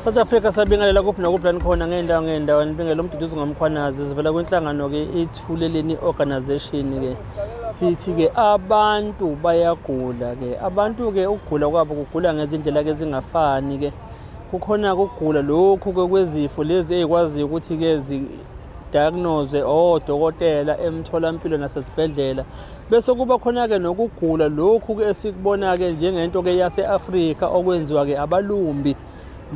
South Africa sabingelela kuphi nakuphi la nikhona ngey'ndawo ngey'ndawo nibingela umduduzi ngomkhwanazi zivela kwinhlangano-ke ithuleleni organization-ke sithi-ke abantu bayagula-ke abantu-ke ukugula kwabo kugula ngezindlela-ke ezingafani-ke kukhona ukugula lokhu-ke kwezifo lezi ey'kwaziyo ukuthi-ke diagnose odokotela emtholampilo nasesibhedlela Bese kuba khona-ke nokugula lokhu-ke esikubona-ke njengento-ke yase-Afrika okwenziwa-ke abalumbi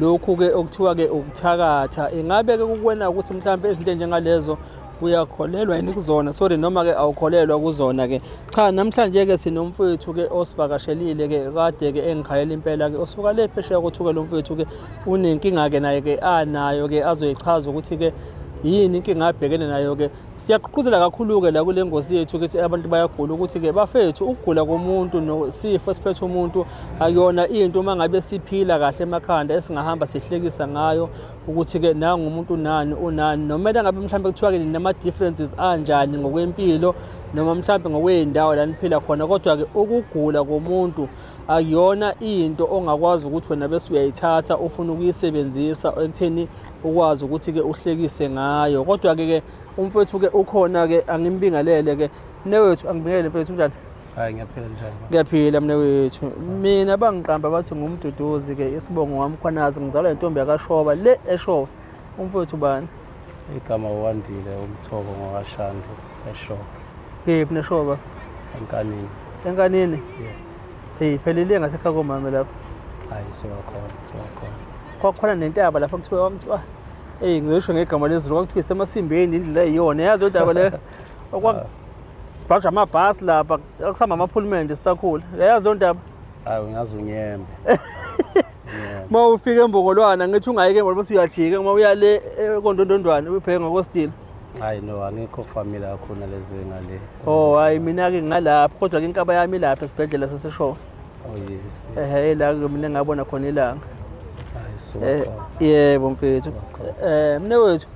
lokhu-ke okuthiwa-ke ukuthakatha ingabe-ke kukwena ukuthi mhlawumbe izinto enjengalezo uyakholelwa yini kuzona sorry noma-ke awukholelwa kuzona-ke cha namhlanje-ke sinomfowethu-ke osivakashelile-ke kade-ke engikhayela impela-ke osuka le phesheya kothuke lo mfowethu-ke unenkinga-ke naye-ke anayo-ke azoyichaza ukuthi-ke yini inkinga abhekene nayo-ke Siyagqugquzela kakhulu-ke la kule ngosi yethu ukuthi abantu bayagula ukuthi-ke bafethu ukugula komuntu nosifo esiphethe umuntu akuyona into uma ngabe siphila kahle emakhanda esingahamba sihlekisa ngayo ukuthi-ke nangu umuntu unani unani nomele ngabe mhlawumbe kuthiwa-ke nama-differences anjani ngokwempilo noma mhlawumbe ngokwey'ndawo la niphila khona kodwa-ke ukugula komuntu akuyona into ongakwazi ukuthi wena bese uyayithatha ufuna ukuyisebenzisa ekutheni ukwazi ukuthi ke uhlekise ngayo kodwa ke ke umfethu ke ukhona ke angimbingelele ke newethu angibingelele mfethu unjani hayi ngiyaphila njani ngiyaphila mina wethu mina bangiqamba bathi ngumduduzi ke isibongo wami khwanazi ngizalwa intombi yakashoba le eshoba umfethu bani igama wandile umthoko ngowashando eshoba kephi neshoba enkanini enkanini yeah. Hey, phelile ngasekhaya komama lapho. Hayi siwakhona, siwakhona. Kwakhona nentaba lapho kuthiwa kwamthiwa Ey ngisho ngegama lezulu kwakuthiwa isemasimbeni indlela eyiyona yazi udaba le okwabhaja amabhasi lapha akusihamba amaphulumende sisakhula yayazi loo ndaba hayi ungaze unyembe uma ufika embongolwana ngithi ungayike ngoba usuyajika uma uya le eh, kondondondwane ubheke ngokositile Hayi no angikho family akhona lezi ngale. Oh hayi mina ke ngalapha kodwa ke inkaba yami lapha esibhedlela saseshowe. Oh yes. Ehhe la ke mina ngabona khona ilanga. Hayi so. Eh, yebo mfethu. Eh mne wethu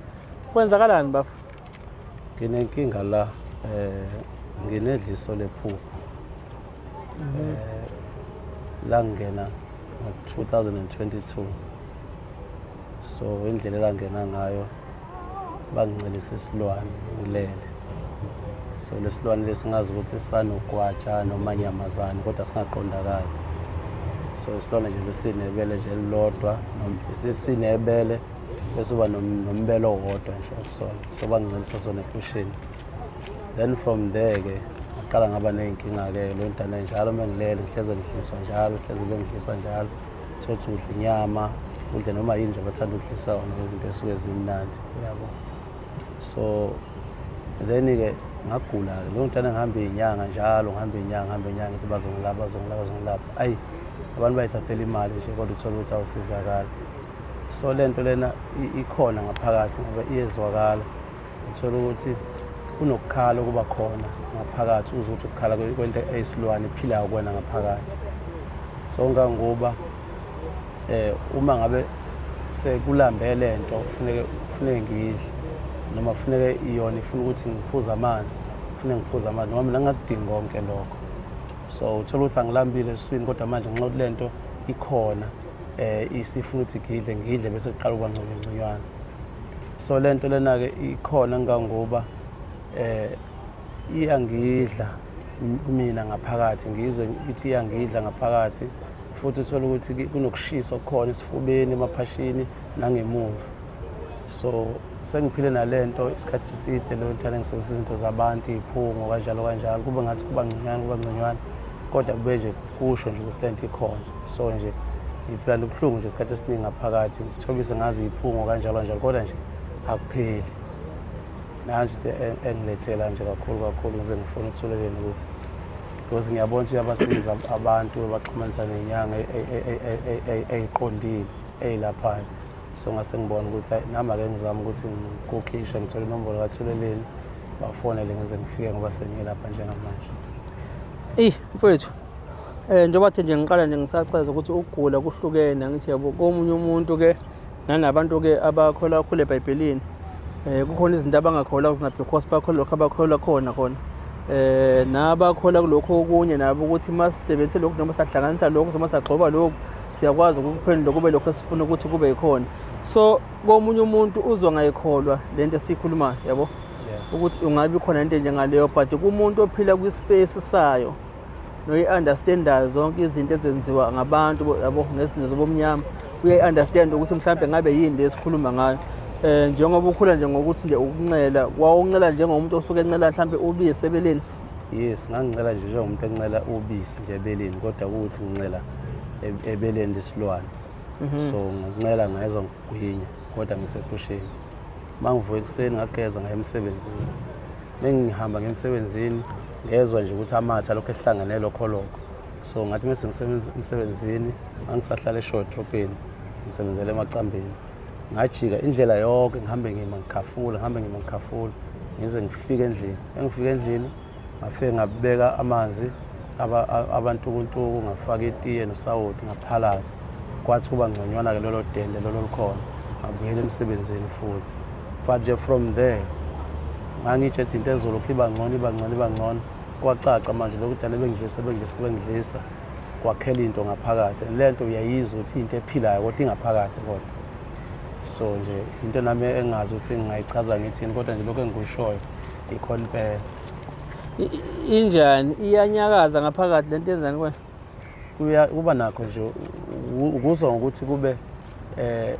kwenzakalani bafo? Nginenkinga la eh nginedliso lephupho. Mhm. Eh la ngena ngo-2022 so indlela elangena ngayo bangincelisa isilwane ngilele so lesilwane lesingazi ukuthi sanogwatsha noma nyamazane kodwa singaqondakali so isilwane nje besinebele nje elilodwa sinebele bese uba nombele owodwa nje okusona so bangincelisa sona epushini then from there ke ngaqala ngaba ney'nkinga-ke lo ntana njalo uma ngilele ngihleze ngidliswa njalo hleze bengidliswa njalo thothi udla inyama udle noma yini nje bathanda ukudlisa wona ngezinto esuke zimnandi uyabo so then-ke ngagula-ke leyo ntana ngihambe iy'nyanga njalo ngihambe iy'nyanga ngihambe iy'nyanga ngithi bazongilapha bazongilapha bazongilapha ayi abantu bayithathela imali nje kodwa uthole ukuthi awusizakali so le nto lena ikhona ngaphakathi ngoba iyezwakala Uthola ukuthi kunokukhala okuba khona ngaphakathi uze ukuthi ukukhala kwento eyisilwane ephilayo kwena ngaphakathi so ngangoba eh uma ngabe sekulambe le nto kufuneke kufuneke ngidle noma kufuneke iyona ifuna ukuthi ngiphuze amanzi kufuneke ngiphuze amanzi noma mina ngakudingi konke lokho so uthola ukuthi angilambile esiswini kodwa manje ngenxa yokuthi le nto ikhona um isifuna ukuthi ngidle ngidle bese kuqala ukuba ngconyongconywana so le nto lena-ke ikhona ngangoba eh iyangidla kumina ngaphakathi ngizwe ukuthi iyangidla ngaphakathi futhi uthole ukuthi kunokushisa okukhona esifubeni emaphashini nangemuva so sengiphile nale nto isikhathi eside leyo nthana ngisebenzisa izinto zabantu iy'phungo kanjalo kanjalo kube ngathi kuba ngconywana kuba ngconywana kodwa kube nje kusho nje ukuthi le nto ikhona so nje ngiphila nobuhlungu nje isikhathi esiningi ngaphakathi Thobise ngazi iphungo kanjalo njalo kodwa nje akupheli. Nansi into e-, engilethela nje kakhulu kakhulu ngize ngifuna ukuthulelela ukuthi because ngiyabona ukuthi uyabasiza abantu baxhumanisa nenyanga e-, e-, eyiqondile eyilaphayo so ngase ngibona ukuthi nami ake ngizame ukuthi ngikukhishe ngithole inombolo kathuleleni bafonele ngize ngifike ngoba sengiyelapha njengamanje eyi mfowethu Eh njengoba thi nje ngiqala nje ngisacheza ukuthi ukugula kuhlukene angithi yabo komunye umuntu ke nanabantu ke abakholwa kakhulu eBhayibhelini eh kukhona izinto abangakholwa kuzona because bakholwa lokho abakholwa khona khona eh nabakholwa kulokho okunye nabo ukuthi masisebenzise lokho noma sahlanganisa lokho noma sagxoba lokho siyakwazi ukuphendula kube lokho esifuna ukuthi kube yikhona so komunye umuntu uzwa ngayikholwa lento esikhulumayo yabo ukuthi ungabe khona into njengaleyo but kumuntu ophila kwi-space sayo noyi-understandayo zonke izinto ezenziwa ngabantu yabo ngezinto zobomnyama uyayi-understand ukuthi mhlawumbe ngabe yini le esikhuluma ngayo um njengoba ukhula nje ngokuthi nje ukuncela wawuncela njengomuntu osuke encela mhlawumbe ubisi ebeleni yes ngangincela nje njengomuntu encela ubisi nje ebeleni kodwa kuwuthi ngincela e-, ebeleni lesilwane mhm. so ngincela ngayezwa ngigwinya kodwa ngisepusheni uma ngivuka ekuseni ngageza ngaye emsebenzini Mengihamba ngemsebenzini ngezwa nje ukuthi amatha lokho ehlangene lokho lokho. So ngathi mase ngisebenza emsebenzini angisahlala eShowe Dropini ngisebenzela emacambini. Ngajika indlela yonke ngihambe ngima ngikhafula ngihambe ngima ngikhafula ngize ngifike endlini. Engifike endlini ngafike ngabeka amanzi abantukuntuku ngafaka itiye nosawoti ngaphalaza. kwathi kuba ngconywana-ke lolo dende lolo likhona ngabuyela emsebenzini futhi but nje from there ngangitsho ethi into ezolokhu iba ngcono iba ngcono iba ngcono kwacaca manje lokhu dala ebengidlisa ebengidlisa ebengidlisa kwakhela into ngaphakathi le nto uyayizwa ukuthi into ephilayo kodwa ingaphakathi kodwa so nje into nami engazi ukuthi ngingayichaza ngithini kodwa nje lokhu engikushoyo ikhona impela injani iyanyakaza ngaphakathi le nto yenzani kwena kuya kuba nakho nje ukuzwa ngokuthi kube eh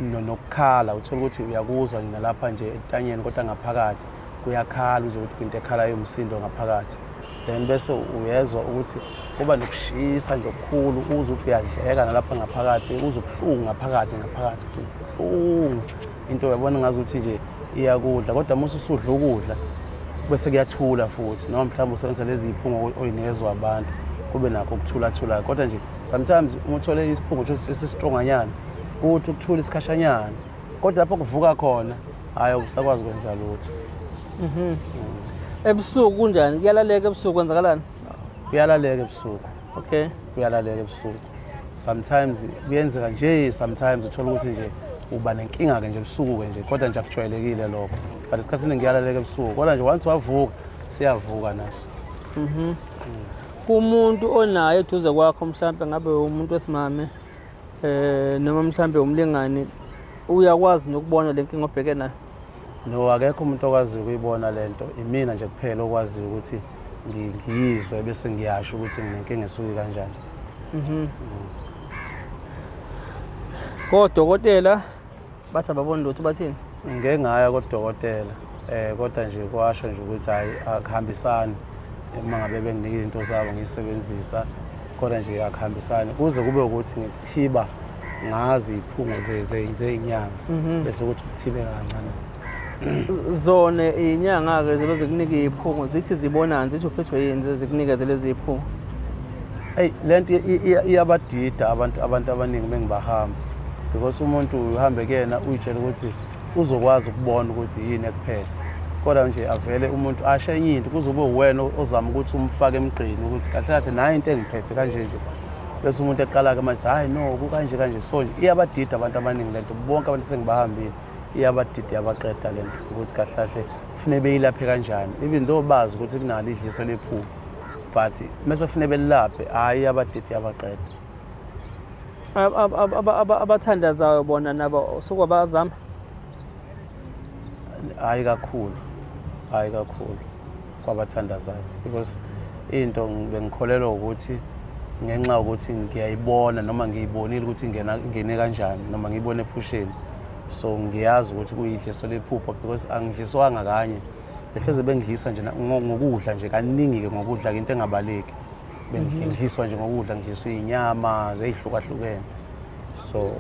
nokukhala uthola ukuthi uyakuzwa nalapha nje etanyeni kodwa ngaphakathi kuyakhala uze ukuthi kwinto ekhalayo umsindo ngaphakathi then bese uyezwa ukuthi kuba nokushisa nje okukhulu uze ukuthi uyadleka nalapha ngaphakathi uze ubuhlungu ngaphakathi ngaphakathi ubuhlungu into uyabona ngazi ukuthi nje iyakudla kodwa uma ususudla ukudla bese kuyathula futhi noma mhlawumbe usebenzisa lezi ziphungo oyinezwa abantu kube nakho ukuthulathulayo kodwa nje sometimes uma uthole isiphungo sesistronganyana kuthi ukuthula isikhashanyana kodwa lapho kuvuka khona hhayi ukusakwazi kwenza lutho mhm. ebusuku kunjani kuyalaleka ebusuku kwenzakalani kuyalaleka ebusuku okay uyalalela ebusuku sometimes kuyenzeka nje sometimes uthola ukuthi nje uba nenkinga ke nje ebusuku ke nje kodwa nje akujwayelekile lokho but esikhathini ngiyalaleka ebusuku kodwa nje once wavuka siyavuka naso mhm mm. kumuntu onaye eduze kwakho mhlambe ngabe umuntu wesimame eh noma mhlambe umlingani uyakwazi nokubona lenkinga obheke nayo No, akekho umuntu okwaziyo ukuyibona le nto. Imina nje kuphela okwaziyo ukuthi ngi- ngiyizwe bese ngiyasho ukuthi nginenkinga esuke kanjani. Kodokotela bathi ababoni lutho bathini? Ngike ngaya kodokotela um kodwa nje kwasho nje ukuthi hhayi akuhambisani. uma ngabe benginika izinto zabo ngiyisebenzisa kodwa nje akuhambisani kuze kube ukuthi ngikuthiba ngazi iphungo zeyinyanga mhm. bese ukuthi kuthibe kancane zona inyanga-ke zibe zikunike iyiphungo zithi zibonani zithi uphethwe yini zikunikeze lezi yiphungo eyi le nto iyabadida abantu abantu abaningi uma ngibahamba because umuntu uhambe kuyena uyitshela ukuthi uzokwazi ukubona ukuthi yini ekuphethe kodwa nje avele umuntu asho enye into kuze kube uwena ozama ukuthi umfake emgqini ukuthi kahle kahle nayo into engiphethe kanje nje bese umuntu eqala-ke manje hhayi no kukanje kanje so nje iyabadida abantu abaningi le nto bonke abantu sengibahambile iyabadida iyabaqeda le nto ukuthi kahle kahle kufuneke beyilaphe kanjani even though bazi ukuthi kunalo idliso lephupho but mese kufuneke belilaphe hhayi iyabadida iyabaqeda abathandazayo bona nabo sokwabazama hayi kakhulu hayi kakhulu kwabathandazayo because into bengikholelwa ukuthi ngenxa yokuthi ngiyayibona noma ngiyibonile ukuthi ingena ingene kanjani noma ngiyibone ephusheni so ngiyazi ukuthi kuyidliso lephupho because angidliswanga kanye behleze bengidlisa nje ngokudla nje kaningi-ke ngokudla-ke into engabaleki bengidliswa nje ngokudla ngidliswa iy'nyama zey'hlukahlukene so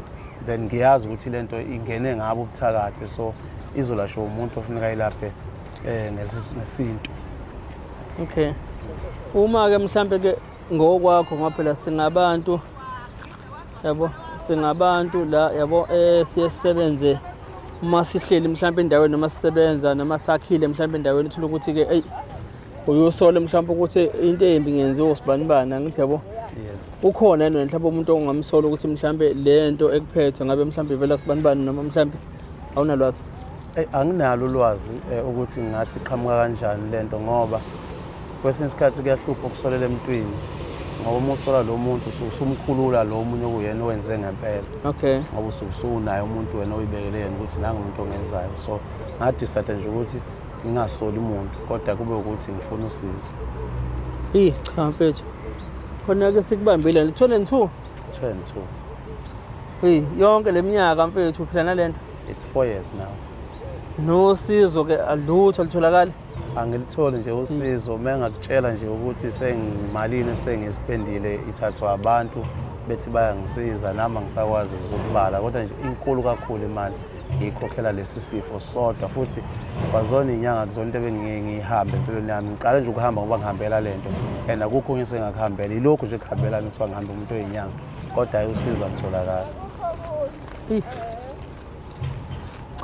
then ngiyazi ukuthi le nto ingene ngabo ubuthakathi so izolashwa umuntu ofuneka ilaphe um ngesintu okay uma-ke mhlampe ke ngokwakho ngoba phela singabantu yabo singabantu la yabo um siye sisebenze uma sihleli mhlawumbe endaweni noma sisebenza noma sakhile mhlawumbe endaweni uthole ukuthi-ke eyi uye usole mhlawumbe ukuthi into embi ngenziwa usibanibani angithi yabo ukhona yena mhlawumbe umuntu ongamsola ukuthi mhlawumbe le nto ekuphethe ngabe mhlawumbe ivela kusibanibani noma mhlawumbe awunalwazi eh, anginalo ulwazi eh, ukuthi ngathi qhamuka kanjani le nto ngoba kwesinye isikhathi kuyahlupha ukusolela emntwini ngoba uma usola lo muntu usuke usumkhulula lo omunye okuyena owenze ngempela okay ngoba usuke usunaye umuntu wena oyibekele yena ukuthi nangumuntu ongenzayo so ngadisade nje ukuthi ngingasoli muntu kodwa kube ukuthi ngifuna usizo eyi cha mfethu khona-ke sikubambile lithole two two and two eyi yonke le minyaka mfethu uphila nale nto it's four years now nosizo-ke alutho alitholakali angilitholi nje usizo uma engakutshela nje ukuthi sengimalini esengiziphendile ithathwa abantu bethi bayangisiza nami angisakwazi ukubala kodwa nje inkulu kakhulu imali ngiyikhokhela lesi sifo sodwa futhi kwazona iy'nyanga kuzona into ebengingeke ngiyihambe empilweni yami ngiqale nje ukuhamba ngoba ngihambela le nto and akukho okunye sengakuhambela yilokhu nje kuhambela mi kuthiwa ngihambe umuntu oy'nyanga kodwa ayi usizo alutholakala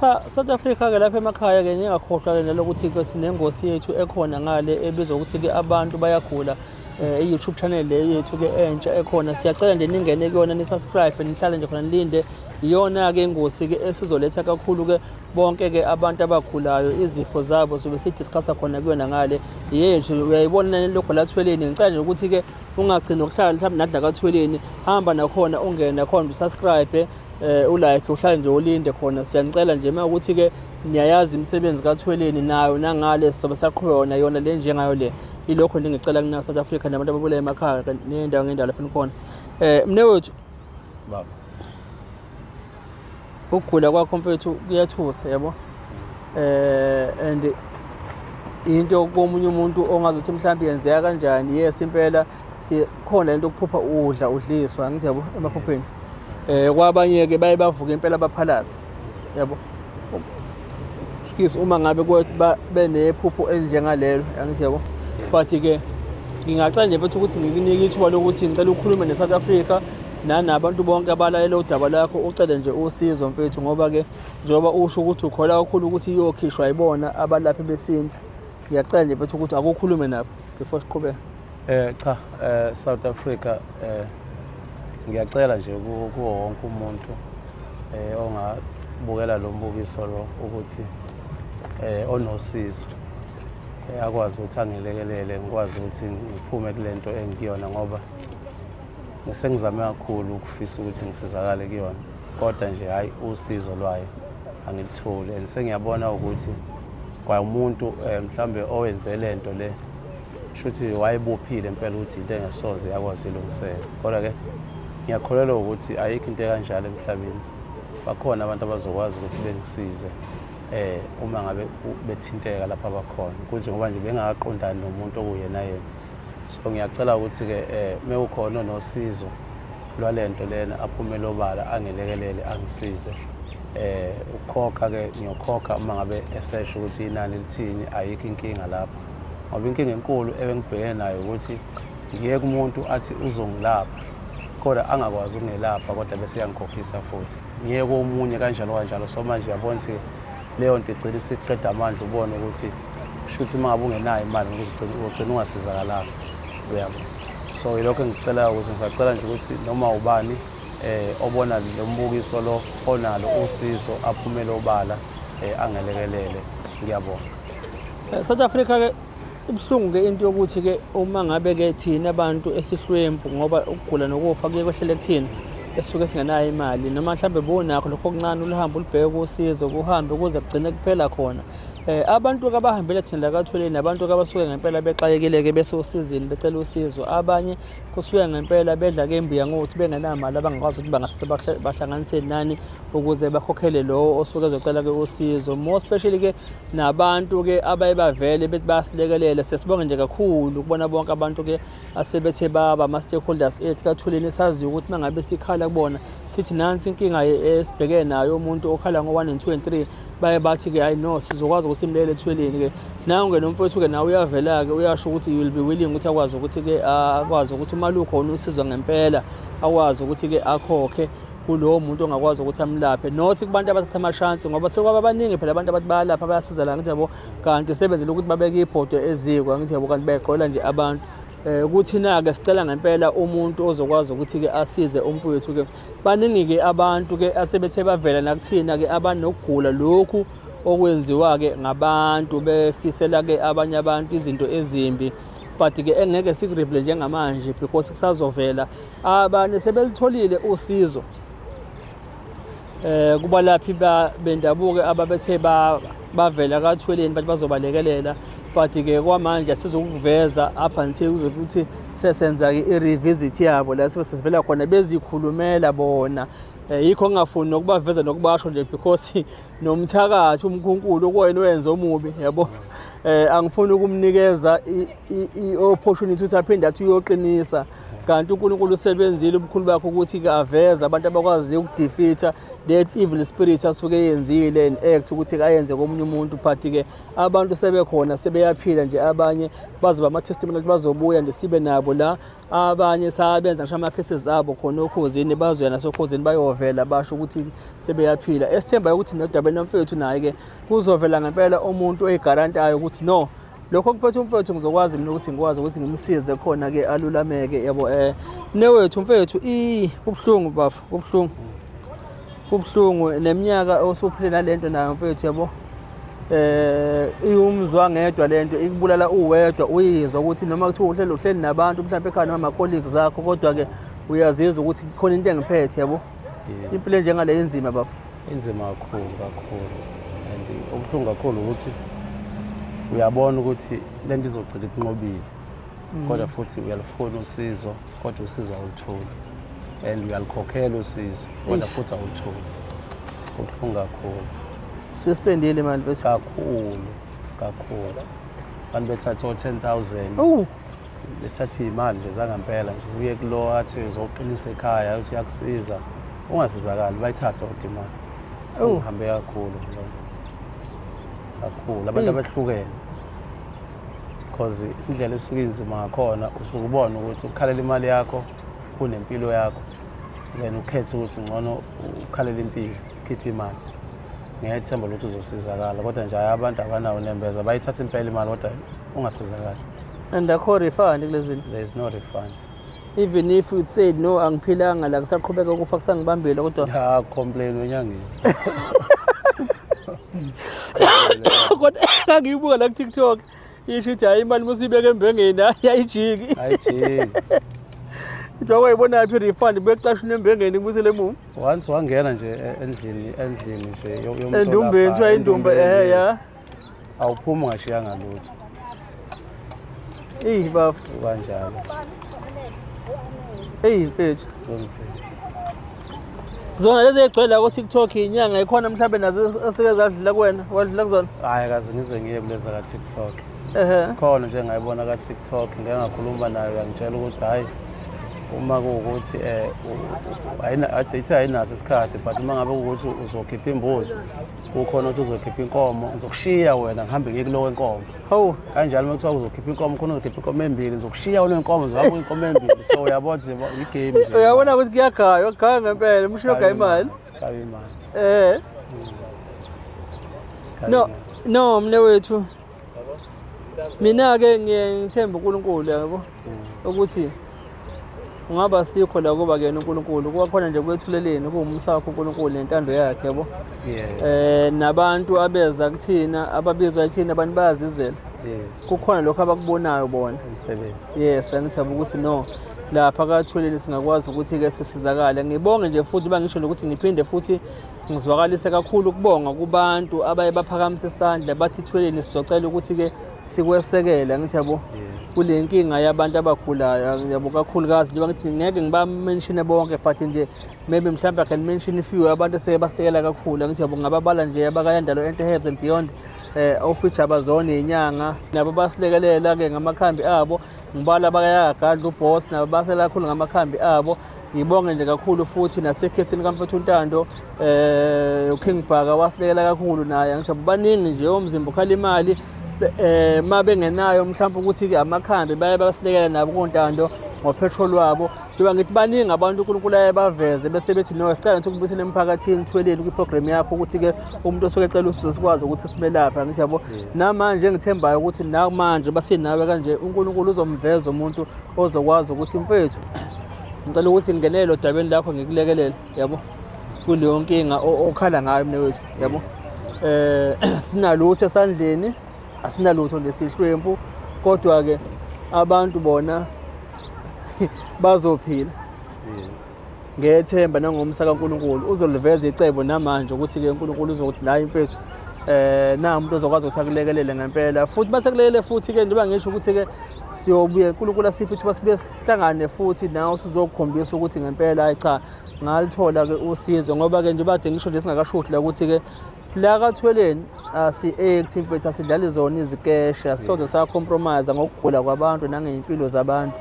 cha south africa-ke lapha emakhaya-ke ningakhohlwa-ke nalokuthi-ke sinengosi yethu ekhona ngale ebizwa ukuthi-ke abantu bayagula Eh, i-youtube channel le yethu-ke entsha ekhona siyacela nje ningene kuyona nisubscribe nihlale nje khona nilinde iyona-ke ingosi-ke esizoletha kakhulu-ke bonke-ke abantu abagulayo izifo zabo sobe sidiscussa khona kuyona ngale yethu uyayibona nani lokho lathweleni ngicela nje ukuthi-ke ungagcini ukuhlala mhlawumbe nadla kathweleni hamba nakhona ungene nakhona usubscribe eh ulike uhlale nje ulinde khona siyanicela nje uma ukuthi ke niyayazi imisebenzi kathweleni nayo nangale sobe saqhubeka yona yona le njengayo le ilokho ningicela kuna South Africa nabantu ababulaye emakhaya nendawo ngendawo lapha nikhona eh mne wethu baba ukugula kwakho mfethu kuyathusa yabo eh and into komunye umuntu ongazothi mhlawumbe yenzeka kanjani yes impela sikhona lento okuphupha udla udliswa angithi yabo emaphupheni eh kwabanye-ke baye bavuke impela baphalaze yabo skis uma ngabe benephupho elinjengalelo angithi yabo but-ke ngingacela nje futhi ukuthi ngikunike ithuba lokuthi ngicela ukhulume ne-south africa nanabantu bonke abalalela udaba lakho ucele nje usizo mfethu ngoba-ke njengoba usho ukuthi ukhola kakhulu ukuthi iyokhishwa yibona abalaphi besintu ngiyacela nje mfethu ukuthi akukhulume nabo before siqhubeka Eh cha eh South Africa eh ngiyacela nje kuwo wonke umuntu eh ongabukela lo mbukiso lo ukuthi eh onosizo eh, akwazi ukuthi angilekelele ngikwazi ukuthi ngiphume kulento engikuyona ngoba ngisengizame kakhulu ukufisa ukuthi ngisizakale kuyona kodwa nje hayi usizo lwayo angilitholi and sengiyabona ukuthi kwaumuntu eh, mhlambe owenze lento le shuthi wayebophile impela ukuthi into engesoze yakwazi ilungiseka kodwa ke ngiyakholelwa ukuthi ayikho into ekanjalo emhlabeni bakhona abantu abazokwazi ukuthi bengisize eh uma ngabe bethinteka lapha bakhona kuthi ngoba nje bengakaqondani nomuntu okuyena yena so ngiyacela ukuthi ke eh mekukhona nosizo lwalento lena aphume lobala angelekelele angisize eh ukukhokha ke ngiyokhokha uma ngabe esesho ukuthi inani lithini ayikho inkinga lapha ngoba inkinga enkulu ebengibhekene nayo ukuthi ngiyeke umuntu athi uzongilapha kodwa angakwazi ukungelapha kodwa bese yangikhokhisa futhi ngiyeke komunye kanjalo kanjalo so manje uyabona ukuthi leyo nto igcina isiqeda amandla ubone ukuthi kusho ukuthi uma ngabe ungenayo imali ugcina ungasizakalanga uyabo so yilokho engicelayo ukuthi ngisacela nje ukuthi noma ubani eh obona lo mbukiso lo onalo usizo aphumele obala eh angelekelele ngiyabonga Eh, South Africa ke ibuhlungu ke into yokuthi ke uma ngabe ke thina abantu esihlwempu ngoba ukugula nokufa kuye kwehlele kuthina esuke singenayo imali noma mhlambe bonakho lokho okuncane uluhambe ulibheke kusizo kuhambe kuze kugcine kuphela khona eh abantu kabahambele thina la kathweleni abantu kabasuke ngempela bexakekile ke bese usizini becela usizo abanye kusuke ngempela bedla ke imbuya ngokuthi bengenamali abangakwazi ukuthi bangahle bahle- bahlanganise nani ukuze bakhokhele lowo osuke ezocela ke usizo more especially ke nabantu-ke abaye bavele bethi bayasilekelela siyasibonga nje kakhulu kubona bonke abantu-ke asebethe baba ama-stakeholders ethu kathuleni esaziyo ukuthi uma ngabe sikhala kubona sithi nansi inkinga esibhekene nayo umuntu okhala ngo-one and two and three baye bathi-ke hayi no sizokwazi ukuthi simlele ethweleni-ke nangu-ke nomfowethu-ke nawe uyavela-ke uyasho ukuthi you will be willing ukuthi akwazi ukuthi-ke akwazi ukuthi uma lukhona usizwa ngempela akwazi ukuthi-ke akhokhe kulowo muntu ongakwazi ukuthi amlaphe nothi kubantu abathatha amashansi ngoba sekwaba baningi phela abantu abathi bayalapha bayasiza la ngithi yabo kanti sebenzela ukuthi babeke ibhodo eziko ngithi yabo kanti bayagqola nje abantu eh kuthina-ke sicela ngempela umuntu ozokwazi ukuthi-ke asize umfowethu-ke baningi-ke abantu-ke asebethe bavela nakuthina-ke abanokugula lokhu okwenziwa-ke ngabantu befisela-ke abanye abantu izinto ezimbi but-ke engeke sikurivele njengamanje because kusazovela abanye sebelitholile usizo eh kubalaphi bendabuko ababethe bavela kathweleni bathi bazobalekelela but ke kwamanje sizokuveza up until kuze kuthi sesenza ke i-revisit yabo la sibe sesivela khona bezikhulumela bona eh, yikho ngingafuni nokubaveza nokubasho nje because nomthakathi umkhunkulu okuyena owenza omubi yabo eh angifuni ukumnikeza i-opportunity ukuthi aphinde athi uyoqinisa kanti uNkulunkulu usebenzile ubukhulu bakhe ukuthi kaveze abantu abakwaziyo ukudefeater that evil spirit asuke yenzile and act ukuthi kayenze komunye umuntu but ke abantu sebekhona sebeyaphila nje abanye bazoba ama testimony bazobuya nje sibe nabo la abanye sabenza ngisho ama-cases abo khona okhozini bazoya nasokhozini bayovela basho ukuthi sebeyaphila esithembayo ukuthi nodabeni nomfethu naye-ke kuzovela ngempela umuntu oyigarantayo ukuthi no lokho kuphethe umfethu ngizokwazi mina ukuthi ngikwazi ukuthi ngimsize khona-ke alulameke yabo um newethu mfethu i kubuhlungu bafo kubuhlungu kubuhlungu neminyaka osuphile nalento nayo mfethu yabo eh iwumzwa ngedwa lento ikubulala uwedwa uyizwa ukuthi noma kuthiwa uhlelo uhleli nabantu mhlawumbe ekhaya noma colleagues zakho kodwa ke uyazizwa ukuthi khona into engiphethe yabo impilo njengale inzima bafo inzima kakhulu kakhulu and okuhlungu kakhulu ukuthi uyabona ukuthi lento izogcina ikunqobile mm. kodwa futhi uyalufuna usizo kodwa usizo awulutholi and uyalukhokhela usizo kodwa futhi awulutholi kubuhlungu kakhulu siyosipendile manje bethu kakhulu kakhulu abantu bethatha o-ten thousand bethatha iy'mali nje zangampela nje uye kulo athi uzoqinisa ekhaya uthi uyakusiza ungasizakali bayithathe kodwa imali sekuhambe kakhulu kakhulu abantu abahlukene because indlela esuke inzima ngakhona usuke ubona ukuthi ukhalela imali yakho kunempilo yakho then ukhethe ukuthi ngcono ukhalela impilo khiphe imali ngiyethemba lokuthi uzosizakala kodwa nje hayi abantu abanawo nembeza bayithatha impela imali kodwa ungasizakali and akho refund kulezini there is no refund even if you say no angiphilanga la kusaqhubeka ukufa kusangibambile kodwa ya complain wenyangeni kodwa ngangiyibuka la ku-tiktok isho ukuthi hhayi imali musiyibeke embengeni hhayi ayijiki ayijiki kuthiwa wayibonaphi i-refund bekucasha unembengeni kubusele emuva once wangena nje e-, endlini endlini nje endumbeni kuthiwa indumba ehe ya awuphumi ungashiyanga lutho eyi bafo kanjalo eyi mfethu zona lezi egcwele ko TikTok inyanga ikhona mhlawumbe nazo esike zadlula kuwena wadlula kuzona hayi kaze ngize ngiye kuleza ka TikTok ehe khona nje ngayibona ka TikTok ngeke ngakhuluma nayo yangitshela ukuthi hayi uma kuwukuthi eh ayina athi ayinaso isikhathi but uma ngabe ukuthi uzokhipha imbuzo kukhona ukuthi uzokhipha inkomo ngizokushiya wena ngihambe ngiye kulowo enkomo hawu kanjalo uma kuthiwa uzokhipha inkomo khona uzokhipha inkomo embili ngizokushiya kulo enkomo ngizohamba inkomo embili so uyabona nje i-game nje uyabona ukuthi kuyagaya ugaya ngempela umshini ogaya imali gaya imali eh no no mne wethu mina-ke ngiye ngithembe unkulunkulu yabo ukuthi ungaba sikho la kuba kuyena unkulunkulu kuba khona nje kwethuleleni kuwumusa wakho unkulunkulu nentando yakhe yabo um nabantu abeza kuthina ababizwa ethina abantu bayazizela kukhona lokho abakubonayo bona yes angithaba ukuthi no lapha kathuleni singakwazi ukuthi-ke sisizakale ngibonge nje futhi uba ngisho nokuthi ngiphinde futhi Ngizwakalise kakhulu ukubonga kubantu abaye baphakamise isandla bathi thweleni sizocela ukuthi-ke sikwesekele angithi yabo kule nkinga yabantu abagulayo yabo kakhulukazi njengoba ngithi ngeke ngibamenshine bonke but nje maybe mhlawumbe i can mention few abantu eseke basitekela kakhulu angithi yabo ngababala nje abakayandalo enhle herbs and beyond um eh, ofisha abazona iyinyanga nabo basilekelela-ke ngamakhambi abo ngibala abakayagagadla ubos nabo basela kakhulu ngamakhambi abo Ngibonge nje kakhulu futhi nasekhesini kamfethu uNtando eh uKing Bhaka wasilekela kakhulu naye angithi baningi nje omzimba ukhala imali eh ma bengenayo mhlawumbe ukuthi ke amakhambi baye basilekela nabo koNtando ngopetrol wabo njengoba ngithi baningi abantu uNkulunkulu aye baveze bese bethi no sicela ukuthi ukubuyisele emphakathini thweleni kwiprogram yakho ukuthi ke umuntu osuke ecela usizo sikwazi ukuthi simelaphe angithi yabo namanje engithembayo ukuthi namanje basinawe kanje uNkulunkulu uzomveza umuntu ozokwazi ukuthi mfethu ngicela ukuthi ngingenele odabeni lakho ngikulekelele yabo kuleyo nkinga okhala ngayo mina wethu yabo eh sinalutho esandleni asinalutho lesihlwempu kodwa ke abantu bona bazophila yes ngethemba nangomsa kaNkuluNkulu uzoliveza icebo namanje ukuthi ke uNkuluNkulu uzokuthi la imfethu eh na umuntu ozokwazi ukuthi akulekelele ngempela futhi basekulele futhi ke njengoba ngisho ukuthi ke siyobuye uNkulunkulu asiphe ukuthi basibuye hlangane futhi nawe usuzokhombisa ukuthi ngempela hayi cha ngalithola-ke usizo ngoba-ke nje bade ngisho nje singakashuthi la ukuthi-ke la kathweleni asi-act mfethu asidlali zona izikesha soze sa-compromise ngokugula kwabantu nangey'mpilo zabantu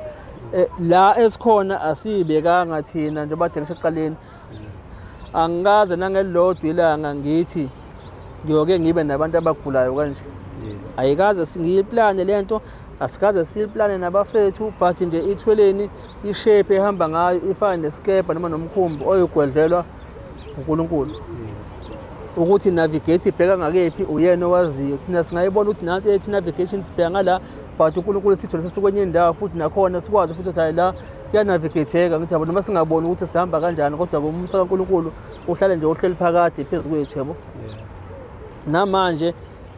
um la esikhona asiyibekanga thina njengoba de ngisho ekuqaleni angikaze nangelilodwa ilanga ngithi ngiyoke ngibe nabantu abagulayo kanje ayikaze singiyiplane le nto asikaze siyiplane nabafethu but nje ithweleni ishape ehamba ngayo ifane nesikebha noma nomkhumbi oyogwedlelwa unkulunkulu ukuthi navigate ibheka ngakephi uyena owaziyo thina singayibona ukuthi nansi ethi navigation sibheka ngala but unkulunkulu sithole sesikwenye indawo futhi nakhona sikwazi futhi ukuthi hayi la kuyanavigetheka ngithi yabo noma singaboni ukuthi sihamba kanjani kodwa umusa kaNkulunkulu uhlale nje uhleli phakade phezu kwethu yabo namanje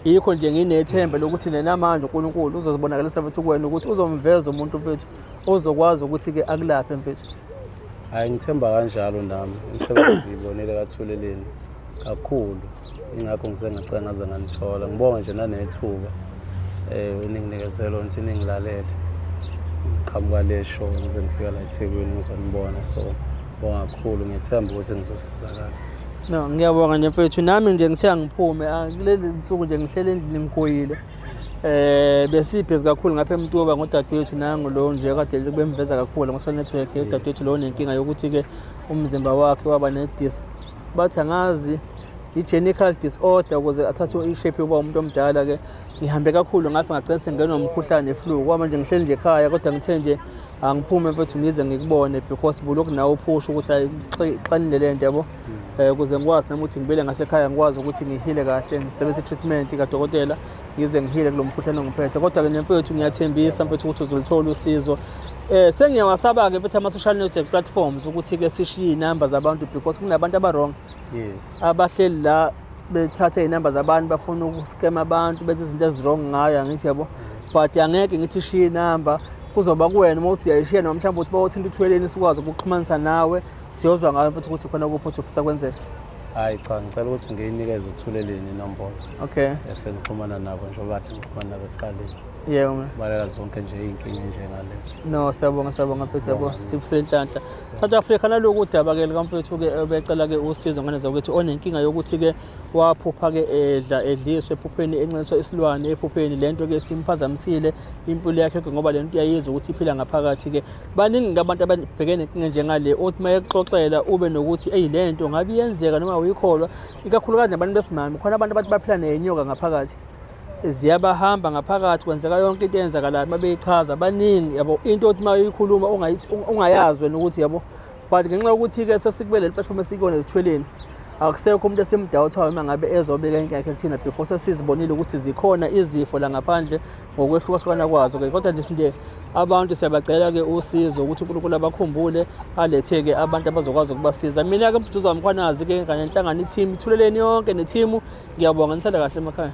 yikho nje nginethemba lokuthi nenamanje uNkulunkulu uzozibonakalisa futhi kuwena ukuthi uzomveza umuntu mfethu ozokwazi ukuthi-ke akulaphe mfethu hhayi ngithemba kanjalo nami umsebenzi ngiyibonele kathuleleni kakhulu ingakho ngisengacela ngaze ngalithola ngibonga nje nanethuba um eninginikeze lona ukuthi ningilalele ngiqhamuka le show ngize ngifika la ethekwini ngizonibona so bonga kakhulu ngiyethemba ukuthi ngizosizakala no ngiyabonga nje mfethu nami nje ngithe angiphume ah, kuleli nsuku nje ngihlele endlini ngigoyile eh besibhizi kakhulu ngapha eMtuba ngodadewethu nangu lo nje kade kubemveza kakhulu ngoSol Network udadewethu lo nenkinga yokuthi ke umzimba wakhe waba ne-disc bathi angazi i-genical disorder ukuze athathe ishape yokuba umuntu omdala-ke ngihambe kakhulu ngapha ngagcina sengenwa umkhuhlane flu kwaba manje ngihleli nje ekhaya kodwa ngithe nje angiphume mfethu ngize ngikubone because bulokhu nawe uphusha ukuthi ayixanile le nto yabo um ukuze ngikwazi nami ukuthi ngibele ngasekhaya ngikwazi ukuthi ngihile kahle ngisebenzise i-treatment kadokotela ngize ngihile kulo mkhuhlane ongiphethe kodwa-ke nje mfethu ngiyathembisa mfethu ukuthi uzoluthola usizo um sengiyawasaba-ke mfethu ama-social network platforms ukuthi-ke sishiye iy'namba zabantu because kunabantu abarong yes abahleli la bethatha iy'namba zabantu bafuna ukuscam abantu benza izinto ezirong ngayo angithi yabo but angeke ngithi shiye inamba kuzoba kuwena uma uthi uyayishiya noma mhlawumbe uthi bawothinta uthweleni sikwazi ukuxhumanisa nawe siyozwa ngayo futhi ukuthi khona kuphi othi ufisa kwenzeka hayi cha ngicela ukuthi ngiyinikeze uthuleleni inombolo okay esengixhumana nabo njengoba athi ngixhumana nabo ekuqaleni yebo mna balela zonke nje iy'nkinga enjengalezi no siyabonga siyabonga mfethu yabo sifuse inhlanhla south africa naloku udaba ke likamfethu-ke obecela-ke usizo ngane zakwethu onenkinga yokuthi-ke waphupha-ke edla edliswe ephupheni encintiswa isilwane ephupheni le nto-ke simphazamisile impilo yakhe-ke ngoba le nto uyayizwa ukuthi iphila ngaphakathi-ke baningi-ke abantu ababhekene nenkinga njengale othi uma ekuxoxela ube nokuthi eyi le nto ngabe iyenzeka noma uyikholwa ikakhulukazi nabantu besimame khona abantu abathi baphila nenyoka ngaphakathi ziyabahamba ngaphakathi kwenzeka yonke into eyenzakalayo uma beyichaza baningi yabo into othi uma uyikhuluma ungayazi wena ukuthi yabo but ngenxa yokuthi-ke sesikubele le platform esikuyona ezithweleni akusekho umuntu esimdawuthayo uma ngabe ezobeka inkinga yakhe kuthina before sesizibonile ukuthi zikhona izifo la ngaphandle ngokwehlukahlukana kwazo ke kodwa ndithi nje abantu siyabacela ke usizo ukuthi uNkulunkulu abakhumbule alethe ke abantu abazokwazi ukubasiza mina ke mduduza wamkhwanazi ke kanye nenhlangano i-team ithuleleni yonke ne-team ngiyabonga nisanda kahle emakhaya